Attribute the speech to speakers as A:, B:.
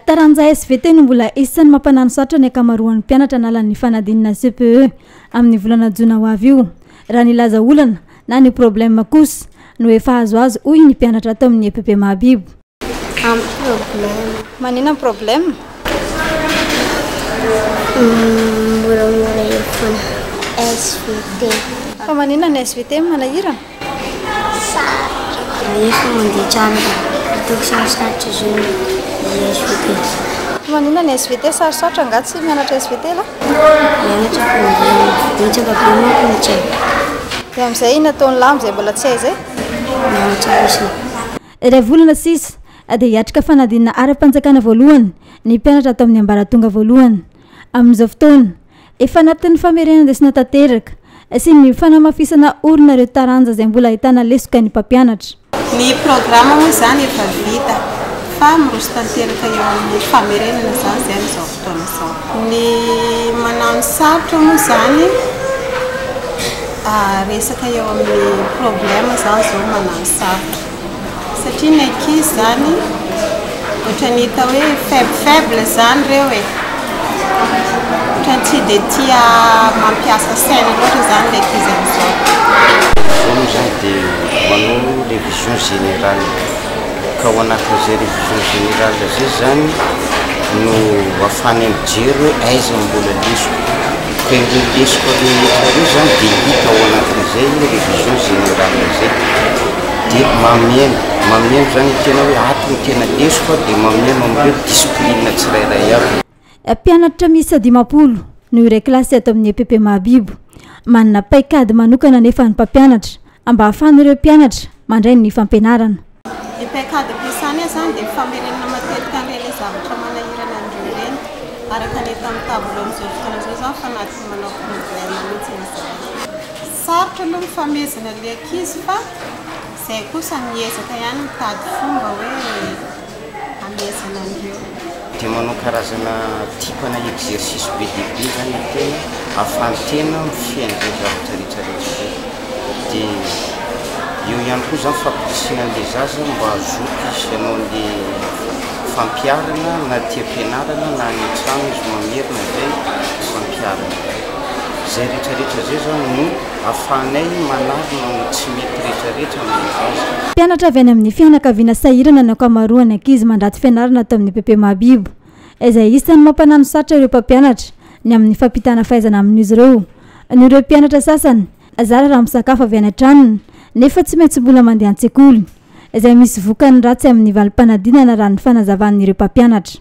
A: Taranja svt no mbola isan'ny mampananosarotra ny ankamaroan'ny mpianatra hanala ny fanadinana CPE amin'ny volana jona ho avy io. Raha ny laza olana na ny problème kosa no efa azoazo hoy ny mpianatra ato amin'ny epp Mahabibo. Ampy problème. Manina ny problème? Moramora
B: eo foana. Svt. Fa manina
A: ny svt? Manahirana? Rehefa
B: mandeha tranobe, ataoko sarosarotra izao ny SVT. Maninona ny
A: SVT? Sarosarotra angaha tsy mianatra SVT lah? Mianatra fa
B: mbola betsaka be manko ny tsy haiko. Dia amin'izay
A: inona ataon'i lah amin'izay mbola tsy hay izay? Mianatra
B: fotsiny. Iray volana
A: sisa dia hiatrika fanadinana ara-panjakana voalohany ny mpianatra ato amin'ny ambaratonga voalohany. Amin'izao fotoana. Efa anatin'ny famerenan-desona tanteraka sy ny fanamafisana orina ireo taranja izay mbola ahitana lesoka ny mpampianatra. Ny programa
C: moa izany efa vita fa miroso tanteraka eo amin'ny famerenana izany izay amin'izao fotoana izao. Ny manao ny sarotra moa izany resaka eo amin'ny problème izany izao manao ny sarotra. Satria ny ankizy zany ohatrany hita hoe faible faible zany reo e! ohatrany tsy dia tia mampiasa sainy loatra zany ny ankizy amizao. Zao
D: moa zany de manao révision générale, ka ao anatin'izay révision générale zay zany no afahany mijery hoe aiza no mbola lesoka. Dia ireo lesoka rehetra ireo izany dia hita ao anatin'izay révision générale izay. Dia mameno, mameno izany tena hoe ato no tena lesoka dia mameno amin'ireo discipline tsirairay avy. Mpianatra
A: miisa dimampolo no iray kilasy ato amin'ny epp Mahabibo. Manana paikady manokana anefa ny mpampianatra mba hahafahan'ireo mpianatra mandray ny fampianarana. Ny paikady
C: ampiasany izany dia famerenana matetika an'ireny zavatra manahirana an'ireo ireny, araka ny hita amin'ny tableau amin'izao fotoana izao izany fa na tsy manao problème mihitsy izany. Sarotra aloha ny famehezana ilay ankizy fa izay kosa miezaka ihany mitady fomba hoe. hamehezana an'ireo. Dia manao
D: karazana type na exercice be dia be zany ny tena ahafahan'ny tena mifehy an'ireny zavatra rehetra rehetra ireny. Dia eo ihany koa zany fampirisihina an'ilay zaza mba hazoto izy hanao an'ilay fampiharana na aty am-pianarana na any an-trano izy mamerina izay fampiharana izay. Izay rehetra rehetra izay zany no. ahafahanay manarina ny tsy mety rehetrarehetra amin'ny vaza. Mpianatra avy any amin'ny
A: fianakaviana sahirana ny ankamaroan'ny ankizy mandrato fianarana ato amin'ny PP Mahabibo, izay isan'ny mampananosatrotra ireo mpampianatra ny amin'ny fampitana fahaizana amin'izy ireo. Noho ireo mpianatra sasany zara raha misakafo avy any an-tranony nefa tsy maintsy mbola mandeha an-tsekoly, izay misy vokany ratsy amin'ny valim-panadinana raha ny fanazavan'ireo mpampianatra.